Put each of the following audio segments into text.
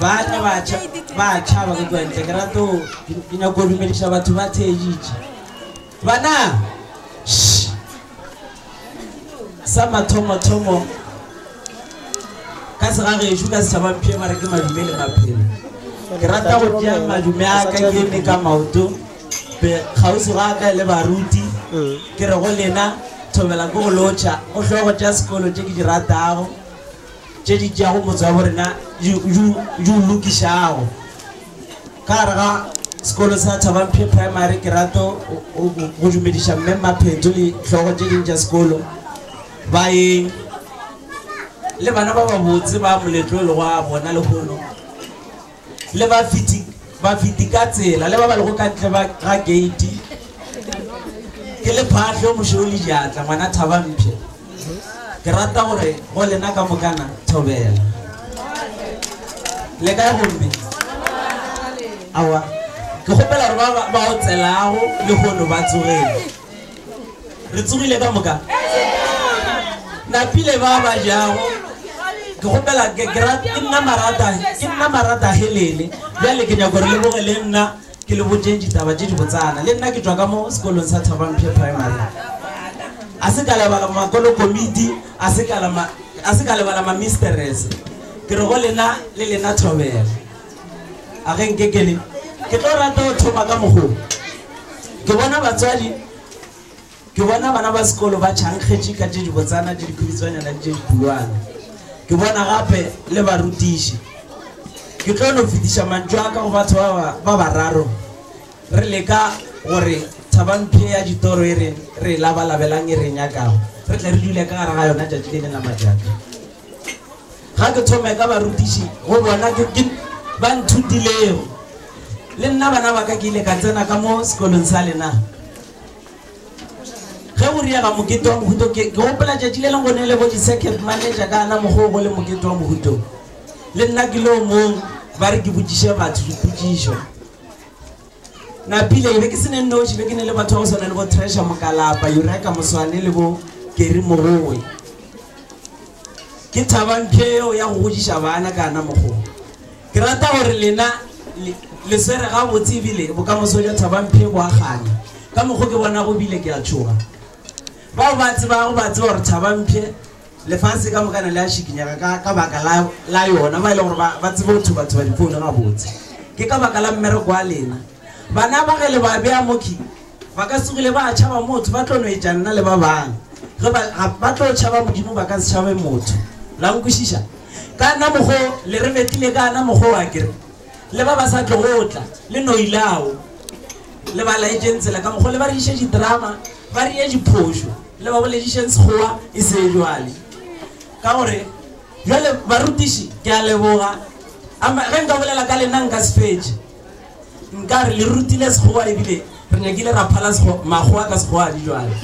Ba tla ba tšha, ba a tšhaba ka kua ntle. Ke rata go, ke, ke nyaka go dumediša batho ba theeditše. Bana! Shh! Sa mathomo-thomo, ka segagešo ka setšhaba mpšhe ba re ke madume le maphelo. Ke rata go tšea madume a ka ke eme ka maoto, be kgauswi ga ka le baruti, ke re go lena, thobela ko go lotšha, go hlogo tša sekolo tše ke di ratago. tše di tšeago motse wa bo rena di di o lokišago ka gare ga sekolo sa Thabamphe Primary ke rato go dumediša mme Mapheto le hlogo tše ding tša sekolo baeng le bana ba babotse ba moletlo e le go a bona lehono le bafeti ka tsela le ba ba lego ka ntle ga gate ke le phaahlo mošo o le diatla ngwana thabamphe ke rata gore go lena ka mokana thobela le kae gomme awa ke kgopela gore ba o tselago le gono ba tsogele Le tsogile ka moka? Napile ba ba jago. Ke gopela ke nna marata, ke nna marata helele. Bjale ke nyako re le boge le nna ke le botše ditaba tše di botsana. Le nna ke tšwa ka mo sekolong sa Thabamphia Primary. A se ka lebala makolo komiti, a se ka lebala ma misterese. Ke re go lena le lena thobela. A ge nke ke le. Ke tlo rata go thoma ka mogo. Ke bona batswadi, ke bona bana ba sekolo ba tšhankgetše ka tše dibotsana le dikhuritswanyana le tše dikhulwane. Ke bona gape le barutiši. Ke tlo no fetiša mantšu a ka go batho ba ba, ba bararo, re leka gore thabampshe ya ditoro e re, re e labalabelang, e re e nyakago, re tle re dule ka gare ga yona tšatši le leng la matšatši. Ga ke thome ka barutiši go bona ke ke ba nthutilego. Le nna bana ba ka ke ile ka tsena ka mo sekolong sa lena. Ge go riega mokete wa mohuto ke ke gopola tšatši le leng go ne le bo di-circuit manager ka ana mokgwa o go le mokete wa mohuto. Le nna ke le o mong ba re ke botšiše batho dipotšišo. Napile, Ke be ke se ne nnoši, be ke ne le batho ba go swana le bo Treasure Mokalapa, Eureka Moswane le bo Gary Morowe. Ke thaba mpshe yeo ya go godiša bana ka na mokgwa wo. Ke rata gore lena le, le swere gabotse e bile bokamoso bja Thabampshe bo a kganya. Ka mokgwa wo ke bonago e bile ke a tšhoga. Bao ba tsebago ba a tseba gore Thabampshe, Lefase ka mokana le a šikinyega ka, ka baka la, la yona, ba e le gore ba, ba tsebe go thuba-thuba difoune gabotse. Ke ka baka la mmereko wa lena. Bana ba ge le ba bea mo ki, ba ka se kgwile ba tšhaba motho, ba tlo no etša nna le ba bang. Ge ba, ga ba tlo tšhaba Modimo, ba ka se tšhabe motho. La nkwešiša? Ka na mokgo le re betile, ka na mokgo a ke re, le ba ba sa tlogo tla, le no ilao. Le ba laetšeng tsela ka mokgwa, le ba reiše didrama, ba reye diphošo, le ba boledišeng Sekgowa e se bjale. Ka gore, bjale, barutiši, ke a leboga. Ama, ge nka bolela ka lena nka se fetše. Nka re le rutile Sekgowa e bile re nyakile ra phala Sekgowa, makgowa ka Sekgowa di bjale.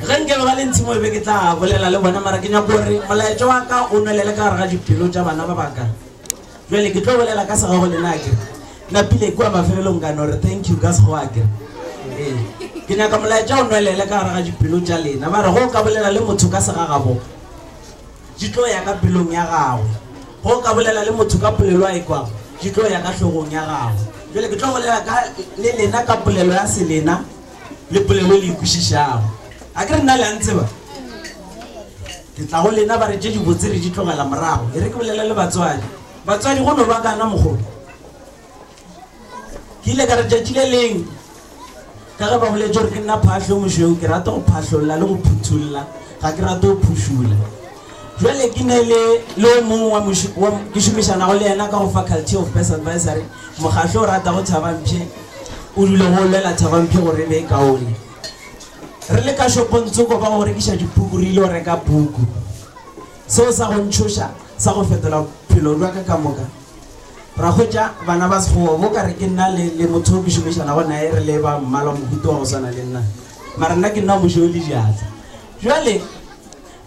Ge nke ba ba le ntshimo e be ke tla bolela le bona, mara ke nyaka gore molaetša wa ka o nwelele ka gare ga dipelo tša bana ba baka. Bjale ke tlo bolela ka sega go lena akere napile kua mafelelong ka no re thank you ka sego akere ee ke nyaka molaetša o nwelele ka gare ga dipelo tša lena ba re go ka bolela le motho ka sega gabo di tlo ya ka pelong ya gagwe go ka bolela le motho ka polelo a e kwago di tlo ya ka hlogong ya gagwe jale ke tlo bolela ka le lena ka polelo ya selena le polelo le ikwešišago a ke re nna le a ntseba Ke tla go lena ba re tše dibotse re di tlogela morago. E re ke bolele le batswadi. Batswadi, go no ba kana mogolo? Ke ile ka re tšatši le leng ka ge ba boletše gore ke nna phahlo yo mošweu, ke rata go phahlolla le go phuthulla, ga ke rate go phušula. Bjale ke ne le le o mongwe wa moši, wa, ke šomišanago le yena ka go Faculty of Best Advisory, mokgahlo o ratago Thabampshe, o dule go lwela Thabampshe gore e be e kaone. re le ka shopong tsoko ba go rekiša dipuku re ile go reka puku seo sa go ntšhoša sa go fetola phelo jwa ka ka moka ra hwetša bana ba sekgowa bo ka re ke nna le, le motho o ke šomišanago nae re le ba mmala mohuto wa go swana le nna mara nna ke nna mošo o le diatla jale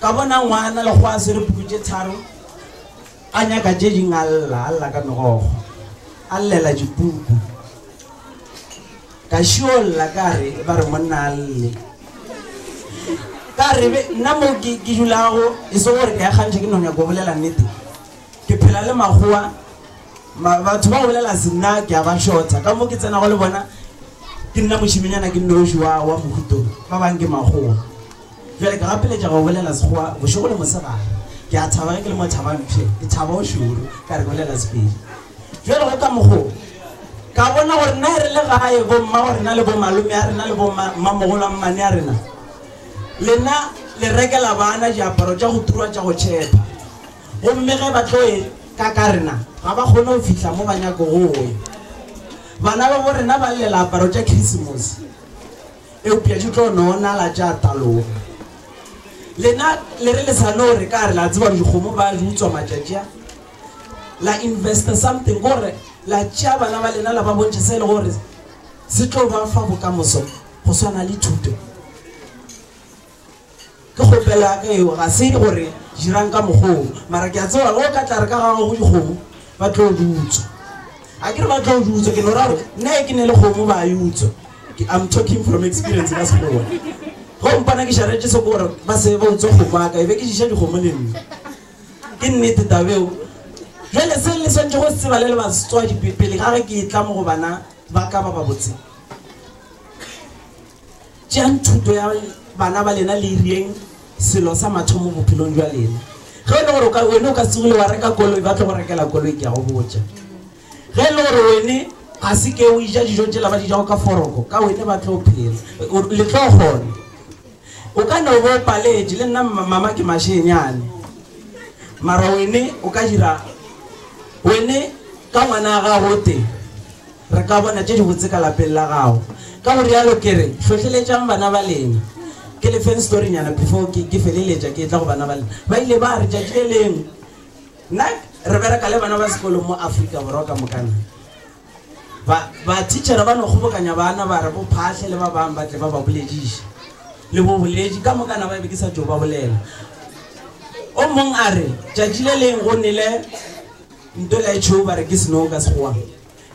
ka bona ngwana le go a swere puku tše tharo a nyaka tše ding a lla a lla ka megogo a llela dipuku Ka šiolla ka re, ba re monna a lle. Ka re, be, nna mo ke, ke dulago, e se gore ke a kgantšha, ke no nyaka go bolela nnete. Ke phela le makgowa, ma, batho ba go bolela se nna ke a ba šotha. Ka mo ke tsenago le bona, ke nna mošemanyana ke nnoši wa, wa mohuto, ba bang ke makgowa. Bjale ke gapeletša go bolela Sekgowa bošego le mosegare. Ke a thaba ge ke le mo Thabampshe, ke thaba o šoro ka re bolela Sepedi. Bjale go ka mokgo ka bona gore na re le gae bo mmago rena le bo malome a rena le bo mmamogolo a mmane a rena, lena le rekela bana diaparo tša go turwa tša go tšhepa. Gomme ge ba tlo e ka ka rena, ga ba kgone go fihla mo ba nyako go ya. Bana ba bo rena ba llela aparo tša Krisemose. eupša di tlo no nala tša taloga. Lena le re le sa no re ka re, la tseba dikgomo ba di utswa matšatši a, la investa something gore la tšea bana ba lena la ba bontšha se le gore se tlo ba fa bokamoso go swana le thuto. Ke kgopelo ya ka eo, ga se gore dirang ka mokgwa wo, mara ke a tseba ge o ka tla re ka ga gago dikgomo ba tlo di utswa. A ke re ba tlo di utswa, ke no ra gore nna e ke ne le kgomo ba e utswa. I'm talking from experience ka Sekgowa. Ge o mpona ke šaretše se ke gore ba se ba utswa kgomo ya ka, e be ke diša dikgomo le nna. Ke nnete taba eo. Bjale se le swanetše go se tseba le le batswadi pele ga ge ke e tla mo go bana ba ka ba babotse, Tšeang thuto ya bana ba lena le irieng selo sa mathomo bophelong jwa lena. Ge e le gore wene o ka segile wa reka koloi, ba tlo go rekela koloi, ke ya go botša. Ge e le gore wene ga se ke o ija dijo tšela ba di jago ka foroko, ka wene ba tlo phela, le tlo kgona. O ka no bo o paletše, le nna mama ke mašenyane, mara wene o ka dira, wene ka ngwana wa gago o tee. Re ka bona tše dibotse ka lapeng la gago. Ka go realo ke re, hlohleletšang bana ba lena. Ke le feng storynyana before ke, ke feleletša ke etla go bana ba lena. Ba ile ba re, Tšatši le lengwe, nna re bereka le bana ba sekolong mo Afrika Borwa ka moka na. Ba, ba thitšhere ba no kgobokanya bana ba re bo Phahle le ba bang ba tle ba ba bolediše. Le bo boledi, ka moka na ba be ke sa tšo ba bolela. O mong a re, Tšatši le lengwe go nele ntola e tšhweu ba re ke snow ka Sekgowa.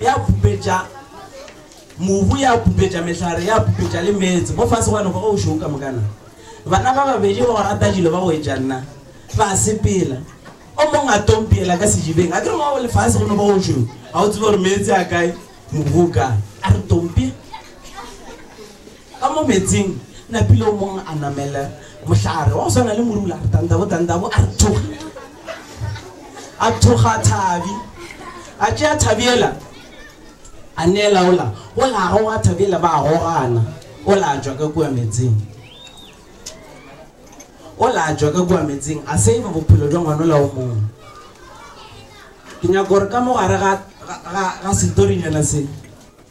ya pupetša mobu, ya pupetša mehlare, ya pupetša le meetse mo fase gwa noka o šweu ka moka na? Bana ba babedi ba go rata dilo ba go etša nna ba sepela, o mong a tompiela ka sejibeng, a ke re wa o le fase go no ba o šweu, ga o tsebe gore meetse a kae, mobu o kae? A re tompi. Ka mo meetseng, napile o mong a namele mohlare wa go swana le morula, a re tandabo, tandabo, a re thokga. A thokga thabi, a tšea thabi ela, a neela ola, ola a goga thabi ela, ba gogana, ola a tšwa ka kua meetseng. Ola a tšwa ka kua meetseng, a save-a bophelo bja ngwana ola o mong. Ke nyaka gore ka mo gare ga, ga, ga, ga setorinyana se,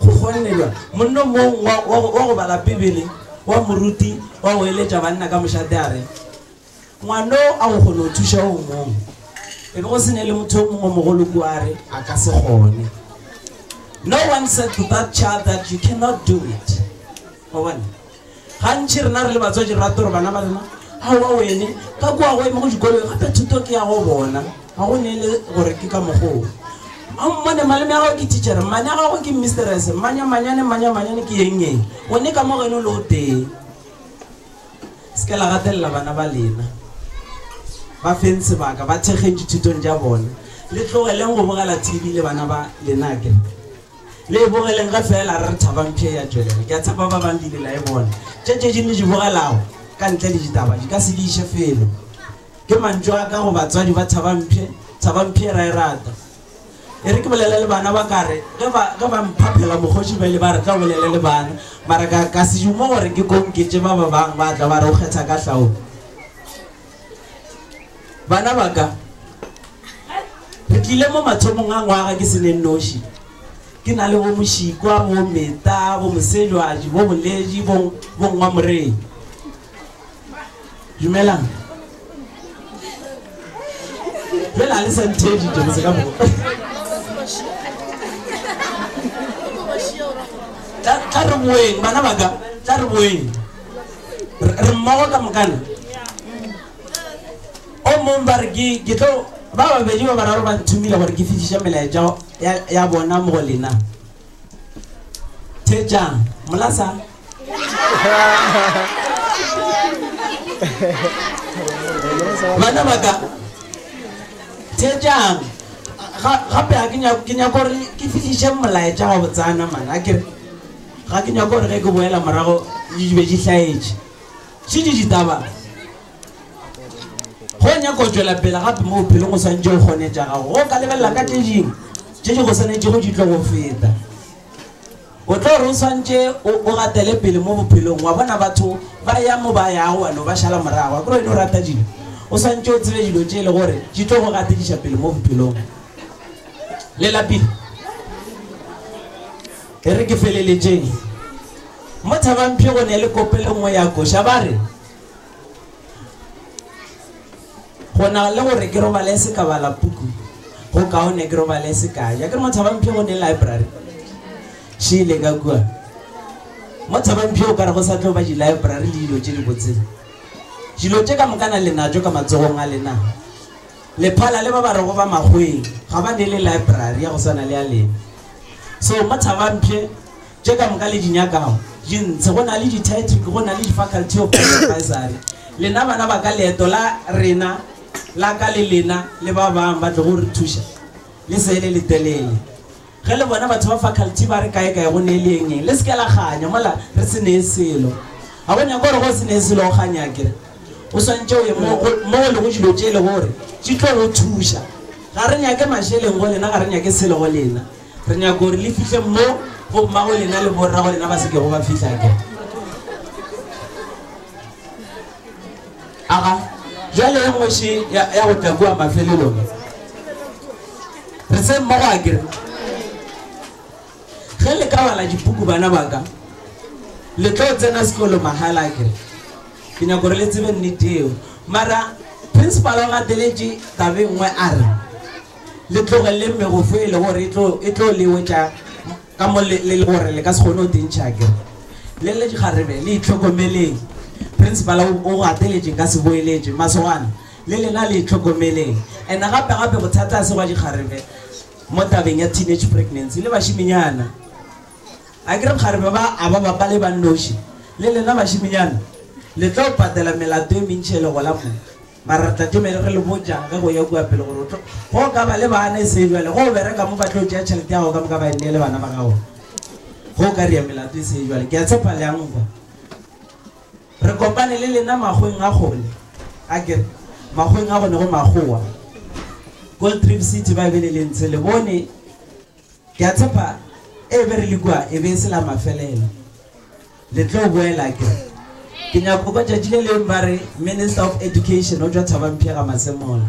Go kgonnelwa, monna o mong wa, wa, go, wa go bala Bibele wa moruti wa go eletša banna ka mošate a re, Ngwano a go kgone go thuša o mong. E be go se ne le motho o mongwe o mogolo kua a re, A ka se kgone. No one said to that child that you cannot do it. Wa bona? Gantši rena re le batswadi re rate gore bana ba rena, Aowa wene, ka kua go ema go dikolong, gape thuto ke ya go bona. Ga go ne e le gore ke ka mokgwa wo. A o mmone, malome a gago ke thitšhere, mmane a gago ke mmisterese, mmanya manyane, mmanya manyane ke eng-eng, gone ka mo go ene o le o tee. Se ke la gatelela bana ba lena. Ba feng sebaka, ba thekgeng dithutong tša bona. Le tlogeleng go bogela TV le bana ba lena, akere? Le e bogeleng ge feela re re thaba mpsha e a tšwelela. Ke a tshepa ba bang le ile la e bona. Tše tše ding le di bogelago ka ntle le ditaba di ka se di iše felo. Ke mantšu a ka go batswadi ba Thaba Mpshe, Thaba Mpshe e ra e rata. E re ke bolele le bana ba ka re ge ba, ge ba mphaphela mokgoši bjale ba re tla o bolele le bana. Mara ka, ka se dume gore ke ko nketše ba ba bang ba tla ba re o kgetha ka hlaolo. Bana ba ka, re tlile mo mathomong a ngwaga ke se ne nnoši. Ke na le bo Mošikwa, bo Meta, bo Mosejwaji, bo Boledi, bo, bo Ngwamorei. Dumelang. Bjale ga le sa nthedi tšo mose ka mogo. Tla, tla re boeng, bana ba ka, tla re boeng. re mmogo ka mokana o mong ba re ke tlo ba babedi ba bararo ba nthomile gore ke fišiša melaetša ya bona mo go lena thejang molasa bana baka thejang gape ga ke nyako gore ke fišiše molaetša wa botsana mana kere Ga ke nyake gore ge ke boela morago di be di hlaetše se di ditaba. Go nyaka go tšwela pele gape mo bophelong o swantše o kgone tša gago go ka lebelela ka tše dingwe tše di go swanetšego di tlo go feta. O tlo gore o swantše o gatele pele mo bophelong wa bona batho ba ya mo ba yago wena o ba šala morago. Akere wena o rata dilo, o swantše o tsebe dilo tše e le gore di tlo go gatediša pele mo bophelong. Le lapile? E re ke feleletšeng, mo Thabampshe go ne le kopelo nngwe ya koša, ba re, Go na le gore ke robale se ka bala puku, go kaone ke robale se ka ja. Ke re mo Thabampshe go ne library, še ile ka kua. Mo Thabampshe o ka re go sa tlo ba di-library le dilo tše dibotse. Dilo tše ka moka na le natšo ka matsogong a lena. Lephala le ba ba rego ba makgweng ga ba neele library ya go swana le ya lena. So mo Thabampshe tše ka moka le di nyakago di ntshe. Go na le di-title, go na le di-faculty of advisory. Lena bana ba ka leeto la rena, la ka le lena le ba bang ba tlogo re thuša le se le letelele. Ge le bona batho ba faculty ba re kae-kae go ne le eng-eng, le se ke la kganya. Mola re se nee selo. A bo nyaka gore ge o se nee selo o kganye akere? O swantše o ye mo go, mo go lego dilo tše e lego gore di tlo go thuša. Ga re nyake mašeleng go lena, ga re nyake selo go lena. Re nyaka gore le fihle mo go mmago lena le borrago lena ba se kego ba fihla akere? Aga, bjale ye nngwe še ya, ya go tla kua mafelelong. re se mmogo a kere ge le ka bala dipuku bana baka le tlo tsena sekolo mahala a kere ke nyako gore le tsebe nnete eo mara principal o gateletše tabe nngwe a re le tlogelele megofo e le gore e tlo lewetša ka mo le le gore le ka se kgone o tentšha kere le le dikgarebe le itlhokomeleng principal o gateletše ka se boeletše masogana Le lena le itlhokomeleng. And gape gape bothata ga se gwa dikgarebe mo tabeng ya teenage pregnancy le bašiminyana. Akere bkgarebe ba a ba bapa le bannoši. Le lena bašiminyana le tlo patela melato e mentši ge le gola mo. Mara re tla teme re le botša ge go ya kua pele gore o tlo go ka ba le bana e se bjale. Ge o bereka mo ba tlo tšea tšhelete ya gago ka moka ba e neele bana ba gago. Ge o ka ria melato e se bjale ke a tshepa le a nkwa. Re kopane le lena magweng a gole, akere, magweng a gone go Makgowa, Gold Reef City, ba e be le le ntshe, le bone. Ke a tshepa e be re le kua e be e se la mafelelo. Le tlo boela, akere? Ke nyaka go kwa tšatši le leng ba re Minister of Education o tšwa Thabamphega Masemola.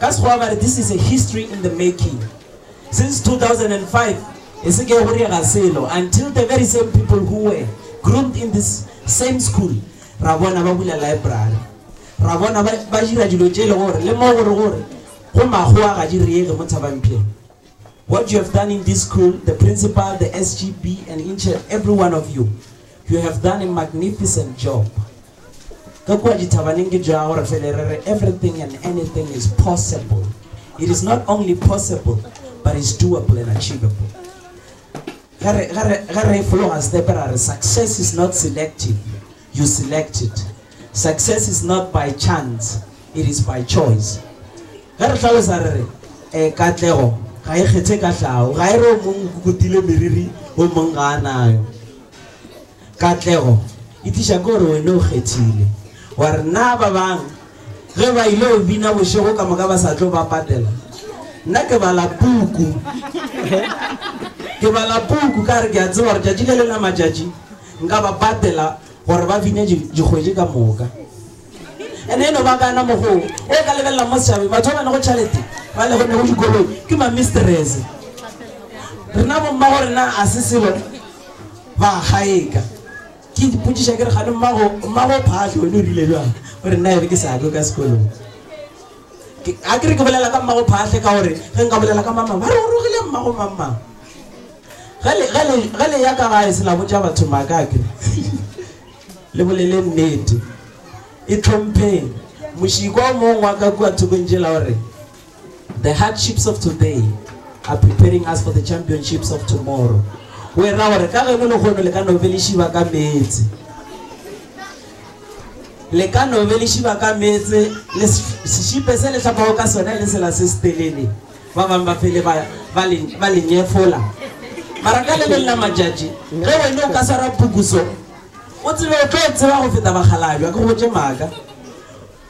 Ka Sekgowa ba re this is a history in the making. Since 2005, e se ke go diega selo until the very same people who were groomed in this same school ra bona ba bula library, ra bona ba ba dira dilo tše e le gore le mo gore gore go makgowa ga di reege mo Thabampheng. What you have done in this school, the principal, the SGB and each and every one of you, you have done a magnificent job. Ka kua dithabaneng ke tšoa gore fele re re everything and anything is possible. It is not only possible but it's doable and achievable. Ge re, ge re, ge re fologa setepe ra re success is not selective, you select it. Success is not by chance, it is by choice. Ge re tlhalosa re re eh, katlego ga e kgethe ka tlhago, ga e re o mong o kukutile meriri o mong ga a nayo. Katlego e tliša ke gore wena o kgethile. Wa re, Na ba bang ge ba ylo bina bošego ka moka ba sa tlo ba patela? Nna ke bala puku. Ke bala puku ka gore ke a tseba gore tšatši le leng la matšatši nka ba patela gore ba bine dikgwedi ka moka. And e no ba kana mokgwa wo. O ka lebelela mo setšhabeng, batho ba ba nago tšhalete, ba lego nago dikoloi, ke ma-mistress. Rena bo-mmagorena ga se selo. Ba gaeka. Ke ipotšiša ke re kgane mmago, mmago Phaahlo wena o rile bjang? O re, Nna ere ke sa kwe ka sekolong. Ke, a ke re ke bolela ka mmago Phaahlo ka gore ge nka bolela ka mamang ba re o rogile mmago mamang. Ge le, ge le, ge le ya ka gae se la botša batho maaka a ke re le bolele nnete. Itlhompheng. Mošikwa o mongwe wa ka kua thokong tšela o re, The hardships of today are preparing us for the championships of tomorrow. O e ra gore ka geno lehono le ka no be le šiba ka meetse. Le ka no be le šiba ka meetse le sešipe se le hlapago ka sona e le sela se se telele. Ba bangwe ba fele ba, ba, le, ba le nyefola. Mara ka le leng la matšatši, ge wena o ka swara pukuso, o tsebe o tlo tseba go feta bakgalabja, ke go botše maaka.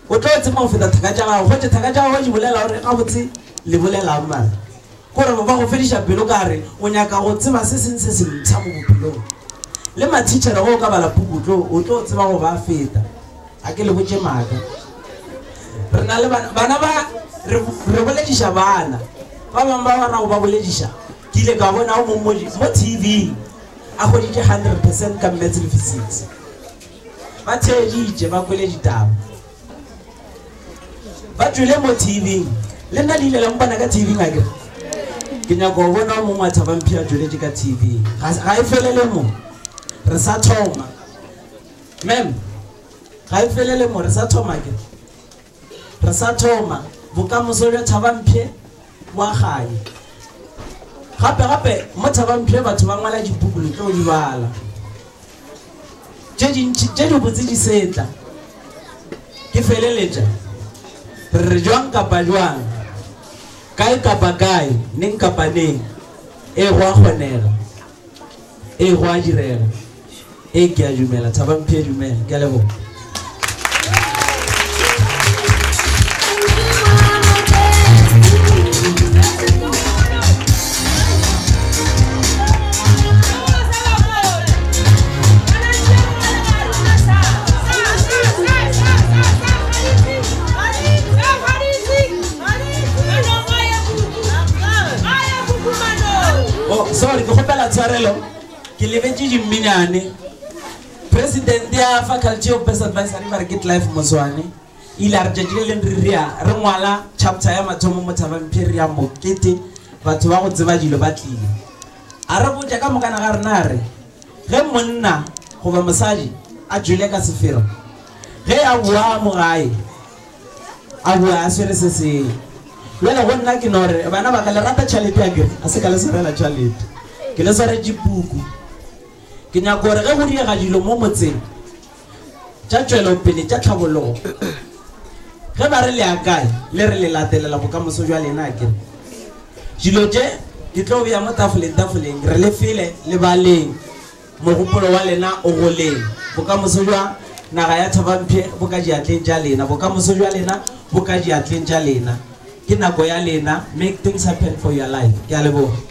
O tlo tsema go feta thaka tša gago, goche thaka tša gago di bolela gore gabotse le bolela'ng mare kore ba go fediša pelo ka re o nyaka go tseba se seng se sempsha mo bophelong. Le mathitšhere ge o ka bala puku tlo o tlo tseba go ba feta. A ke le botše maaka. Re na le bana, bana ba re re bolediša bana ba bang ba ba ra go ba bolediša ke ile ka bona o mong mo mo TV a hweditše 100 percent ka Maths le Physics. Ba theeditše ba kwele ditaba. Ba tšwele mo TV-ing. Le nna le ile la mpona ka TV-ing a kere? Ke nyaka go bona o mongwe wa Thabamphia a tšweletše ka TV-ing. Ga, ga e felele mo. Re sa thoma. Ma'am, ga e felele mo. Re sa thoma akere? Re sa thoma, bokamoso bja Thabampshe bo a kganya. Gape, gape, mo Thabampshe batho ba ngwala dipuku, le tlo di bala. Tše dintši tše dibotse di setla. Ke feleletša, re re bjang kapa bjang, kae kapa kae, neng kapa neng, ee, go a kgonega. Ee, go a direga. Ee, ke a dumela. Thaba Mphe, dumela. Ke a leboga. Oh, sorry, ke kgopela tshwarelo. Ke lebetše dimminyane. President ya Faculty of Best Advisory ba re ke Clive Moswane. Ile a re tšatši le leng re rea re ngwala chapter ya mathomo mo Thabang Pier ya mokete batho ba go tseba dilo ba tlile. A re botša ka mokana ga rena a re ge monna goba mosadi a jele ka sefero ge a boa mo gae A boa a swere se sengwe. Bjale go nna ke no re, Bana ba ka, le rata tšhalete akere? A se ka le swarela tšhalete. Ke le swaretše puku. Ke nyaka gore ge go direga dilo mo motseng tša tšwelopele, tša tlhabologo, ge ba re le ya kae, le re le latelela bokamoso bja lena akere? Dilo tše ke tlo bea mo tafoleng, tafoleng, re le file lebaleng. Mogopolo wa lena o go leng. Bokamoso bja naga ya Thabampshe bo ka diatleng tša lena. Bokamoso bja lena bo ka diatleng tša lena. Ke nako ya lena. Make things happen for your life. Ke a leboga.